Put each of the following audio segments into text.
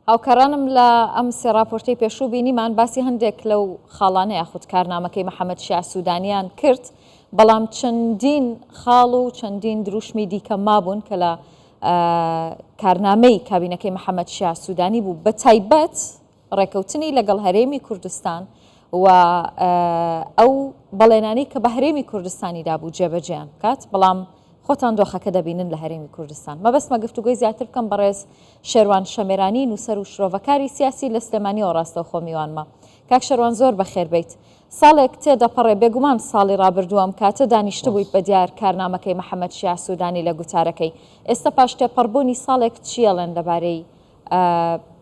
هاوکارانم لە ئەم سێ ڕاپۆرتەی پێشوو بینیمان باسی هەندێک لەو خاڵانە یاخود کارنامەکەی محەممەد شیع سوودانیان کرد، بەڵام چەندین خاڵ و چەندین درووشمی دیکە مابوون کە لە کارنامەی کابینەکەی محەممەد شیع سوودانی بوو بە تایبەت ڕێکەوتنی لەگەڵ هەرێمی کوردستان و ئەو بەڵێنانەی کە بە هەرێمی کوردستانی دابوو جێبەجێیان بکات، بەڵام خۆتان دۆخەکە دەبینن لە هەرێمی کوردستان. مەبەستمە گفتوگۆی زیاتر بکەم بەڕێز شێروان شەمێرانی نووسەر و شرۆڤەکاری سیاسی لە سلێمانیەوە ڕاستەوخۆ میوانمە. کاک شێروان زۆر بەخێر بێیت. ساڵێک تێدەپەڕێ بێگومان ساڵی ڕابردوو ئەم کاتە دانیشتبوویت بە دیار کارنامەکەی محەمەد شیاع سوودانی لە گوتارەکەی. ئێستا پاش تێپەڕبوونی ساڵێک چییەڵێن لەبارەی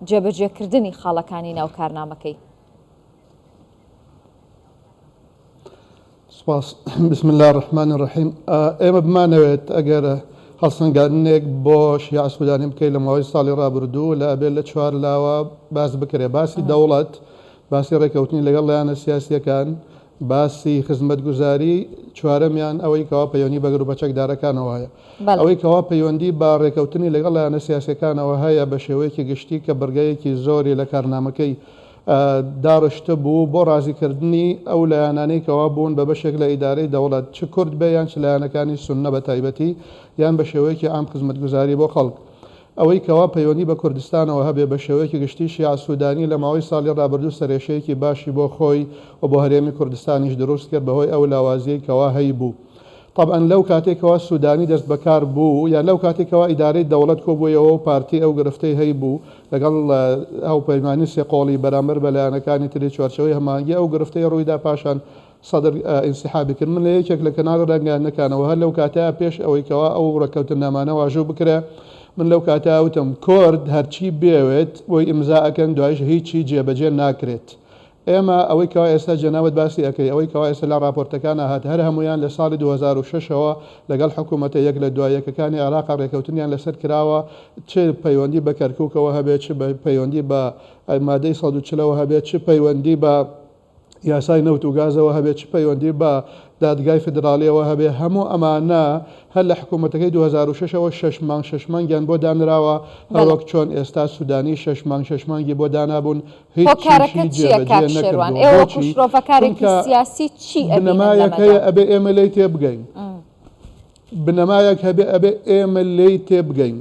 جێبەجێکردنی خاڵەکانی ناو کارنامەکەی؟ سپاس. بسم اللە الرحمن الرحیم ئێمە بمانەوێت ئەگەر هەڵسەنگاندنێک بۆ شیعە سودانی بکەین لە ماوەی ساڵی ڕابردوو لە ئەبێت لە چوار لاوە باس بکرێت باسی دەوڵەت باسی ڕێکەوتنی لەگەڵ لایەنە سیاسیەکان باسی خزمەتگوزاری چوارەمیان ئەوەی کەوا پەیوەندی بە گروپە چەکدارەکانەوە هەیە بەڵێ ئەوەی کەوا پەیوەندی بە ڕێکەوتنی لەگەڵ لایەنە سیاسیەکانەوە هەیە بە شێوەیەکی گشتی کە بڕگەیەکی زۆری لە کارنامەکەی داڕشتە بوو بۆ ڕازی کردنی ئەو لایەنانەی کەوا بوون بە بەشێک لە ئیدارەی دەوڵەت چ کورد بێ یان چ لایەنەکانی سوننە بە تایبەتی یان بە شێوەیەکی عام خزمەتگوزاری بۆ خەڵک ئەوەی کەوا پەیوەندی بە کوردستانەوە هەبێ بە شێوەیەکی گشتی شیاع سودانی لە ماوەی ساڵی ڕابردوو سەرێشەیەکی باشی بۆ خۆی و بۆ هەرێمی کوردستانیش دروست کرد بە هۆی ئەو لاوازیەی کەوا هەی بوو تەبعەن لەو کاتەی کەوا سودانی دەست بەکار بوو یا لەو کاتەی کەوا ئیدارەی دەوڵەت کۆبوویەوەو پارتی ئەو گرفتەی هەیبوو لەگەڵ هاوپەیمانی سێ قۆڵی بەرامبەر بە لایەنەکانی تری چوارچێوەی هەماهەنگی ئەو گرفتەی روویدا پاشان سەدر ئینسیحابی کرد من لە یەکێک لە کەناڵ رەنگانەکانەوە هەر لەو کاتە پێش ئەوەی کەوا ئەو رەکەوتنامانە واژوو بکرێ من لەو کاتە وتم کۆرد هەرچی بێوێت بۆی ئیمزا ئەکەن دوایش هیچی جێبەجێ ناکرێت ئێمە ئەوەی کەوا ئێستا جەنابت باسی ئەکەی ئەوەی کەوا ئێستا لە ڕاپۆرتەکانا هات هەر هەموویان لە ساڵی دوو هەزار و شەش ەوە لەگەڵ حکوومەتە یەک لە دوا یەکەکانی عێراقا ڕێکەوتنیان لەسەر کراوە چ پەیوەندی بە کەرکووکەوە هەبێت چ پەیوەندی بە مادەی سەد و چل ەوە هەبێت چ پەیوەندی بە یاسای نەوت و گازەوە هەبێت چ پەیوەندی بە دادگای فیدراڵیەوە هەبێت هەموو ئەمانە هەر لە حکوومەتەکەی دوو هەزار و شەش ەوە شەش مانگ شەش مانگیان بۆ دانراوە هەروەک چۆن ئێستا سوودانی شەش مانگ شەش مانگی بۆ دانابوون هۆکارەکە چیە کاک شێروان ئێوە وەکو شرۆڤەکارێکی سیاسی چی ئەبینن لەمەدا؟ بنەمایەک هەبێ ئەبێ ئێمە لێی تێبگەین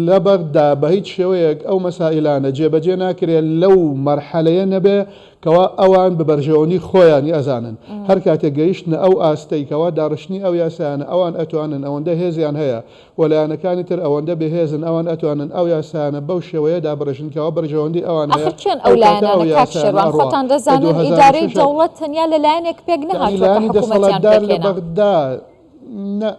لە بەغدا بە هیچ شێوەیەک ئەو مەسائلانە جێبەجێ ناکرێت لەو مەرحەلەیە نەبێ کەوا ئەوان ببەرژەوەنی خۆیانی ئەزانن هەر کاتێک گەیشتنە ئەو ئاستەیکەوە داڕشتنی ئەو یاسایانە ئەوان ئەتوانن ئەوەندە هێزیان هەیە و لایەنەکانی تر ئەوەندە بێهێزن ئەوان ئەتوانن ئەو یاسایانە بەو شێوەیە دابڕێژن کە ئەوە بەرژەوەندی ئەوان هەیە، ئاخر کێن ئەو ئەو کاتە لایەنانە ئەو کاک یاسایانە شێروان؟ ئەڕوا خۆتان لە دوو دەزانن هەزار و ئیدارەی شەش دەوڵەت تەنیا لە لایەنێک پێک یەعنی نەهاتووە کە لایەنی حکوومەتیان دەسەڵاتدار لە پێکهێنا. بەغدا نە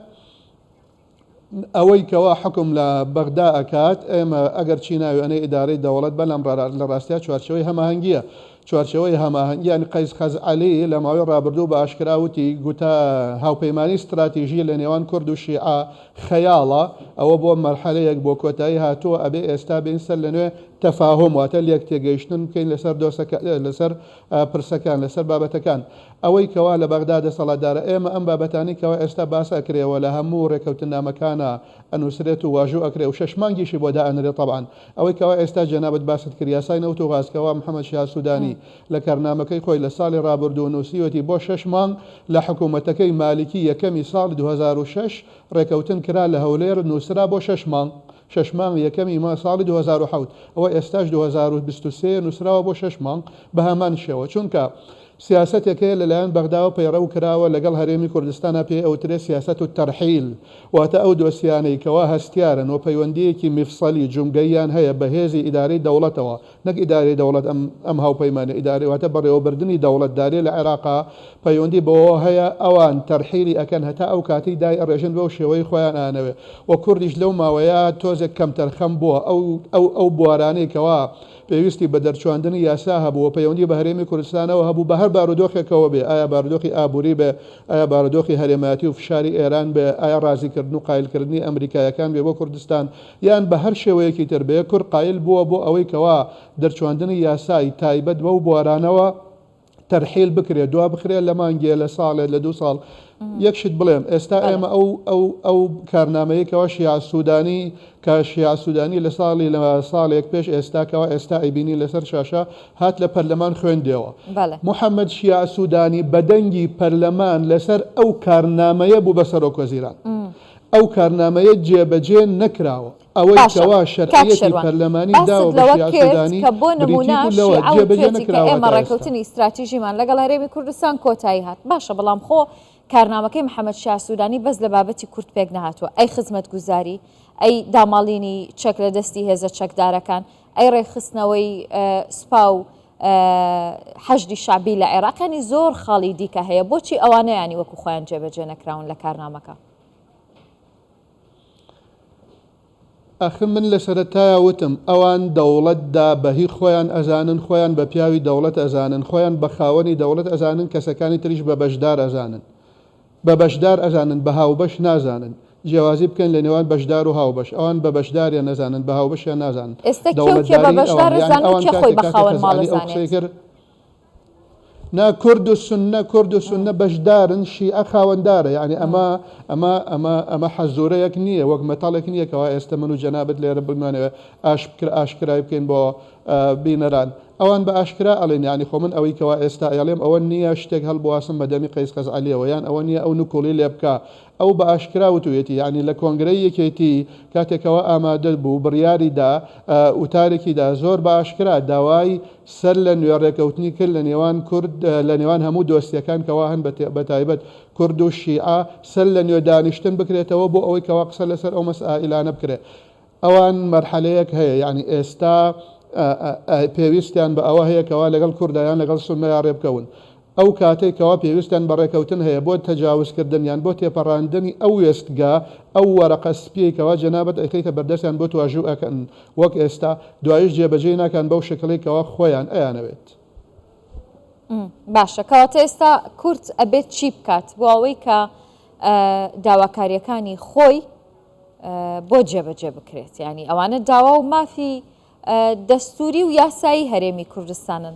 ئەوەی کەوا حوکم لە بەغدا ئەکات، ئێمە ئەگەر چی ناوی ئەنێ ئیدارەی دەوڵەت بەلام ڕا لە ڕاستیا چوارچێوەی هەماهەنگییە چوارچێوەی هەماهەنگیان قەیس خەزعەلی لە ماوەی ڕابردوو بە ئاشکرا وتی، گوتە هاوپەیمانیی ستراتیژی لە نێوان کورد و شیعە خەیاڵە، ئەوە بۆ مەرحەلەیەک بۆ کۆتایی هاتووە، ئەبێ ئێستا بێین سەر لەنوێ تەفاهوم، واتە لێکتێگەیشتن بکەین لەسەر دۆسەکە، لەسەر پرسەکان، لەسەر بابەتەکان. ئەوەی کەوا لە بەغدا دەسەڵاتدارە، ئێمە ئەم بابەتانەی کەوا ئێستا باس ئەکرێ و لە هەموو ڕێکەوتننامەکانا ئەنووسرێت و واژوو ئەکرێ و شەش مانگیشی بۆ دائەنرێ تەبعەن، ئەوەی کەوا ئێستا جەنابت باست کرد یاسای نەوت و غاز کەوا محمد شیها سودانی لە کارنامەکەی خۆی لە ساڵی ڕابردوو نوسیوەتی بۆ شەش مانگ لە حکومەتەکەی مالکی یەکەمی ساڵی دوو هەزار و شەش ڕێکەوتن کرا لە هەولێر نوسرا بۆ شەش مانگ شەش مانگ یەکەمی مای ساڵی دوو هەزار و حەوت ئەوە ئێستاش دوو هەزار و بیست و سێ نوسراوە بۆ شەش مانگ بەهەمان شێوە چونکە سیاسەتێک هەیە لەلایەن بەغداوە پەیڕەو کراوە لەگەڵ هەرێمی کوردستانا پێی ئەوترێ سیاسەت الترحیل واتە ئەو دۆسیانەی کەوا هەستیارن و پەیوەندیەکی میفصلی، جومگەییان، هەیە بە هێزی ئیدارەی دەوڵەتەوە نەک ئیدارەی دەوڵەت ئەم ئەم هاوپەیمانە ئیدارەی واتە بەڕێوەبردنی دەوڵەت دارێ لە عێراقا پەیوەندی بەوەوە هەیە ئەوان ترحیلی ئەکەن هەتا ئەو کاتەی دای ئەڕێژن بەو شێوەی خۆیان ئانەوێ و کوردیش لەو ماوەیە تۆزێک کەمتەرخەم بووە ئەو ئەو ئەو بوارانەی کەوا پێویستی بە دەرچواندنی یاسا هەبوو و پەیوەندی بە هەرێمی کوردستانەوە هەبوو، بە هەر بارودۆخێکەوە بێ، ئایا بارودۆخی ئابووری بێ، ئایا بارودۆخی هەرێمایەتی و فشاری ئێران بێ، ئایا ڕازیکردن و قایلکردنی ئەمریکاییەکان بێ بۆ کوردستان، یان بە هەر شێوەیەکی تر بێ، کورد قایل بووە بۆ ئەوەی کەوا دەرچواندنی یاسای تایبەت بەو بوارانەوە تەرحیل بکرێت دوا بخرێت لە مانگێ لە ساڵێت لە دوو ساڵ یەک شت بڵێم ئێستا ئێمە ئەو ئەو ئەو کارنامەیەکەوە شیا سوودانی کە شیا سوودانی لە ساڵی لە ساڵێک پێش ئێستاکەەوە ئێستا ئەیبینی لەسەر شاشە هات لە پەرلەمان خوێندەوە محەممەد شیا سوودانی بەدەنگی پەرلەمان لەسەر ئەو کارنامەیە بوو بە سەرۆک وەزیران ئەو کارنامەیە جێبەجێ نەکراوە ئەوەی کەوا شەرعیەتی پەرلەمانی داوە بە شیعە سوودانی، بریتی بوو لەوە، جێبەجێ نەکراوە تا ئێستا. ستراتیژیمان لەگەڵ هەرێمی کوردستان کۆتایی هات. باشە بەڵام خۆ کارنامەکەی محەمەد شیاع سوودانی بەس لە بابەتی کورد پێک نەهاتووە، ئەی خزمەتگوزاری، ئەی داماڵینی چەک لە دەستی هێزە چەکدارەکان، ئەی ڕێکخستنەوەی سوپا و حەشدی شەعبی لە عێراق، یانی زۆر خاڵی دیکە هەیە، بۆچی ئەوانەیانی وەکو خۆیان جێبەجێ نەکراون لە کارنامەکە؟ ئەخ من لە سەرەتایا وتم ئەوان دەوڵەت دا بە هی خۆیان ئەزانن خۆیان بە پیاوی دەوڵەت ئەزانن خۆیان بە خاوەنی دەوڵەت ئەزانن کەسەکانی تریش بە بەشدار ئەزانن بە بەشدار ئەزانن بە هاوبەش نازانن جیاوازی بکەن لە نێوان بەشدار و هاوبەش ئەوان بە بەشداریان نەزانن بە هاوبەشیان نازانن ئێستا کێ و کێ بە دەوڵەتداری ئەوان بەشدار یانی ئەزانن و ئەوان کێ خۆی کاتێک بە کە خاوەن کەسەکانی ماڵ ئەو قسەی ئەزانێت کرد نا کورد و سنە کورد و سنە بەشدارن شیعە خاوەندارە یعنی ئەمە ئەمە ئەمە ئەمە حەزورەیەک نییە وەک مەتاڵێک نییە کەوا ئێستا من و جەنابت لێرە بمانەوە ئاش بکر ئاشکرای بکەین بۆ بینەران ئەوان بە ئاشکرا ئەڵێن یعنی خۆ من ئەوەی کەوا ئێستا ئەڵێم ئەوە نییە شتێک هەڵبواسم بە دەمی قەیس قەزعەلیەوە یان ئەوە نییە ئەو نکوڵی لێ بکە ئەو بە ئاشکرا وتوێتی یعنی لە کۆنگرەی یەکێتی کاتێکەوە ئامادە بوو بڕیاریدا وتارێکیدا زۆر بە ئاشکرا داوای سەر لە نوێ ڕێکەوتنی کرد لە نێوان کورد لە نێوان هەموو دۆسیەکان کەوا هەن بە تایبەت کورد و شیعە سەر لە نوێ دانیشتن بکرێتەوە بۆ ئەوەی کەوا قسە لەسەر ئەو مەسائیلانە بکرێ ئەوان مەرحەلەیەک هەیە یعنی ئێستا پێویستیان بە ئەوە هەیە کەوا لەگەڵ کوردایان لەگەڵ سوننەیا ڕێبکەون ئەو کاتەی کەوا پێویستیان بە ڕێکەوتن هەیە بۆ تەجاوز کردن یان بۆ تێپەڕاندنی ئەو وێستگە ئەو وەرەقە سپیەی کەوا جەنابت ئەیخەیتە بەردەستیان بۆت واژوو ئەکەن وەک ئێستا دوایش جێبەجێی ناکان بەو شەکڵەی کەوا خۆیان ئەیانەوێت. باشە کەواتە ئێستا کورد ئەبێت چی بکات بۆ ئەوەی کە داواکاریەکانی خۆی بۆ جێبەجێ بکرێت یعنی ئەوانە داوا و مافی دەستوری و یاسایی هەرێمی کوردستانن؟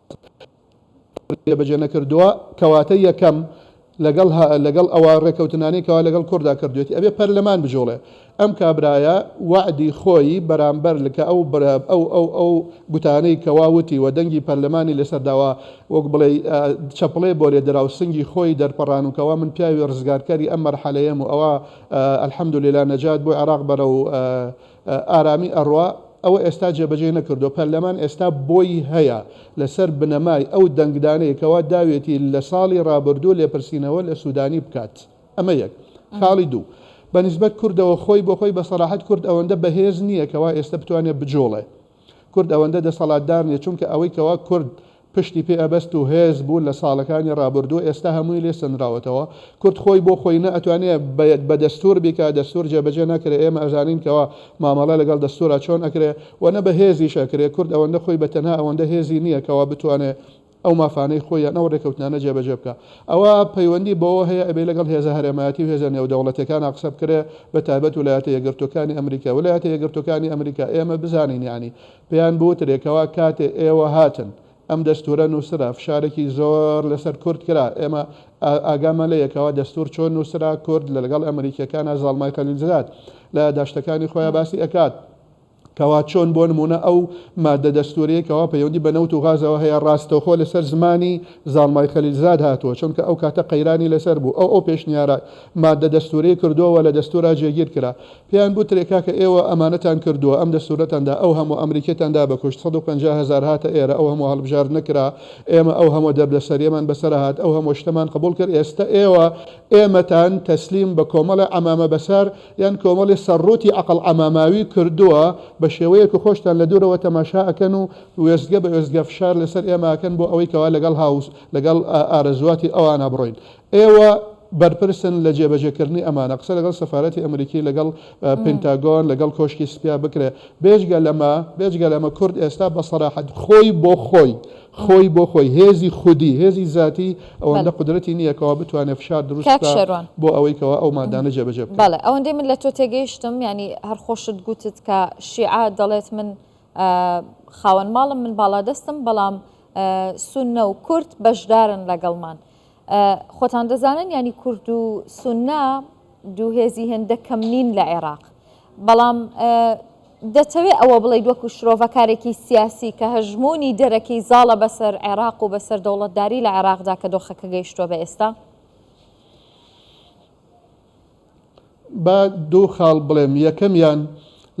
جێبەجێ نەکردووە کەواتە یەکەم لەگەڵ لەگەڵ ئەوە ڕێکەوتنانەی کەوا لەگەڵ کوردا کردوێتی ئەبێ پەرلەمان بجوڵێ ئەم کابرایە وعدی خۆی بەرامبەر لکە ئەو برا ئەو ئەو ئەو گوتانەی کەواوتی و دەنگی پەرلەمانی لەسەرداوا وەک بڵێ چەپڵێ بۆ لێ درا و سنگی خۆی دەرپەڕان و کەوا من پیاوی ڕزگارکاری ئەم مەرحەلەیەم و ئەوە الحمد لله نەجات بۆ عێراق بەرە و ئارامی ئەڕوا، ئەوە ئێستا جێبەجێی نەکردووە، پەرلەمان ئێستا بۆی هەیە لەسەر بنەمای ئەو دەنگدانەی کەوا داوێتی لە ساڵی ڕابردوو لێپرسینەوە لە سودانی بکات. ئەمە یەک. خاڵی دوو، بە نیسبەت کوردەوە خۆی بۆ خۆی بە سەراحەت کورد ئەوەندە بەهێز نییە کەوا ئێستا بتوانێت بجوڵێ. کورد ئەوەندە دەسەڵاتدار نییە، چونکە ئەوەی کەوا کورد پشتی پێ ئەبەست و هێز بوو لە ساڵەکانی ڕابوردوو ئێستا هەمووی لێ سەندراوەتەوە کورد خۆی بۆ خۆی نە ئەتوانێ بە دەستور بیکا دەستور جێ بەجێ ناکرێ ئێمە ئەزانین کەوا مامەڵە لەگەڵ دەستورا چۆن ئەکرێ وە نە بە هێزیش ئەکرێ کورد ئەوەندە خۆی بە تەنها ئەوەندە هێزی نیە کەوا بتوانێ ئەو مافانەی خۆی یان ئەو ڕێکەوتنانە جێ بەجێ بکا ئەوە پەیوەندی بەوە هەیە ئەبێ لەگەڵ هێزە هەرێمایەتی و هێزە نێودەوڵەتیەکانا قسە بکرێ بە تایبەت ولایەتە یەکگرتوەکانی ئەمریکا ولایەتە یەکگرتوەکانی ئەمریکا ئێمە بزانین یانی پێیان بوترێ کەوا کاتێ ئێوە هاتن ئەم دەستورە نوسرا فشارێکی زۆر لەسەر کورد کرا ئێمە ئاگامان لێیە کەوا دەستور چۆن نوسرا کورد لەلەگەڵ ئەمریکیەکانا زاڵمای خەلیلزاد لە یاداشتەکانی خۆیا باسی ئەکات کەوا چۆن بۆ نمونە ئەو مادە دەستوریەی کەوا پەیوەندی بە نەوت و غازەوە هەیە ڕاستەوخۆ لەسەر زمانی زاڵمای خەلیلزاد هاتووە چونکە ئەو کاتە قەیرانی لەسەر بوو ئەو ئەو پێشنیارە مادە دەستوری کردووە لە دەستورا جێگیر کرا پێیان بوت رێ کاکە ئێوە ئەمانەتان کردوە ئەم دەستورەتان دا ئەو هەموە ئەمریکیتان دا بەکوشت سەد و پەنجا هەزار هاتە ئێرە ئەو هەموە هەڵبژاردنە کرا ئێمە ئەو هەموە دەردەسەریەمان بەسەرا هات ئەو هەموە شتەمان قبول کرد ئێستە ئێوە ئێمەتان تەسلیم بە کۆمەڵێ عەمامە بەسار یان کۆمەڵێ سەر روتی عەقڵ عەماماوی کردوە بە شێوەیەک خۆشتان لە دورەوە تەماشا ئەکەن و وێستگە بە وێستگە فشار لەسەر ئێمە ئەکەن بۆ ئەوەی کەوا لەگەڵ هاوس لەگەڵ ئارەزواتی ئەوانا بڕۆین ئێوە بەرپرسن لە جێبەجێکردنی ئەمانە. قسە لەگەڵ سەفارەتی ئەمریکی، لەگەڵ پنتاگۆن، لەگەڵ کۆشکی سپیا بکرێت. بێجگە لەمە، بێجگە لەمە کورد ئێستا بە سەراحەت خۆی بۆ خۆی، خۆی بۆ خۆی، هێزی خودی، هێزی زاتی، ئەوەندە قودرەتی نییە کەوا بتوانێت فشار دروست بکات بۆ ئەوەی کەوا ئەو مادانە جێبەجێ بکرێت. بەڵێ، ئەوەندەی من لە تۆ تێگەیشتم، یانی هەر خۆشت گوتت کە شیعە دەڵێت من خاوەن ماڵم، من باڵادەستم، بەڵام سوننە و کورد بەشدارن لەگەڵمان. خۆتان دەزانن یانی کورد و سوننە دوو هێزی هێندە کەم نین لە عێراق. بەڵام دەتەوێ ئەوە بڵێیت وەکو شرۆڤەکارێکی سیاسی کە هەژموونی دەرەکی زاڵە بەسەر عێراق و بەسەر دەوڵەتداری لە عێراقدا کە دۆخەکە گەیشتووە بە ئێستا؟ با دوو خاڵ بڵێم، یەکەمیان،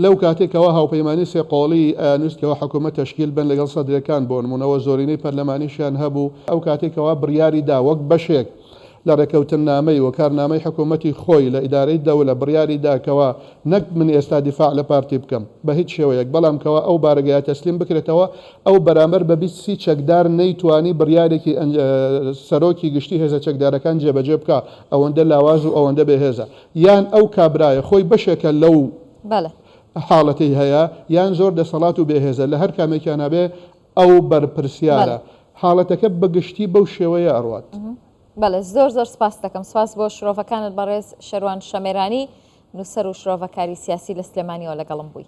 لەو کاتەی کەوا هاوپەیمانیی سێ قۆڵیی ئەیانویست کەوا حکوومەت تەشکیل بن لەگەڵ سەدرەکان بۆ نموونە و زۆرینەی پەرلەمانیشیان هەبوو، ئەو کاتەی کەوا بڕیاری دا وەک بەشێک لە ڕێکەوتننامەی و کارنامەی حکوومەتی خۆی لە ئیدارەی دەولە بڕیاری دا کەوا نەک من ئێستا دیفاع لە پارتی بکەم بە هیچ شێوەیەک بەڵام کەوا ئەو بارەگایە تەسلیم بکرێتەوە ئەو بەرامبەر بە بیست سی چەکدار نەیتوانی بڕیارێکی سەرۆکی گشتی هێزە چەکدارەکان جێبەجێ بکا ئەوەندە لاواز و ئەوەندە بێ هێزە یان ئەو کابرایە خۆی بەشێکە لەو حاڵەتەی هەیە یان زۆر دەسەڵات و بێ هێزە لە هەر کامێکیانە بێ ئەو بەرپرسیارە حاڵەتەکە بە گشتی بەو شێوەیە ئەڕوات. بەڵێ زۆر زۆر سپاس دەکەم سپاس بۆ شرۆڤەکانت بەڕێز شەروان شەمێرانی نووسەر و شرۆڤەکاری سیاسی لە سلێمانیەوە لەگەڵم بووی.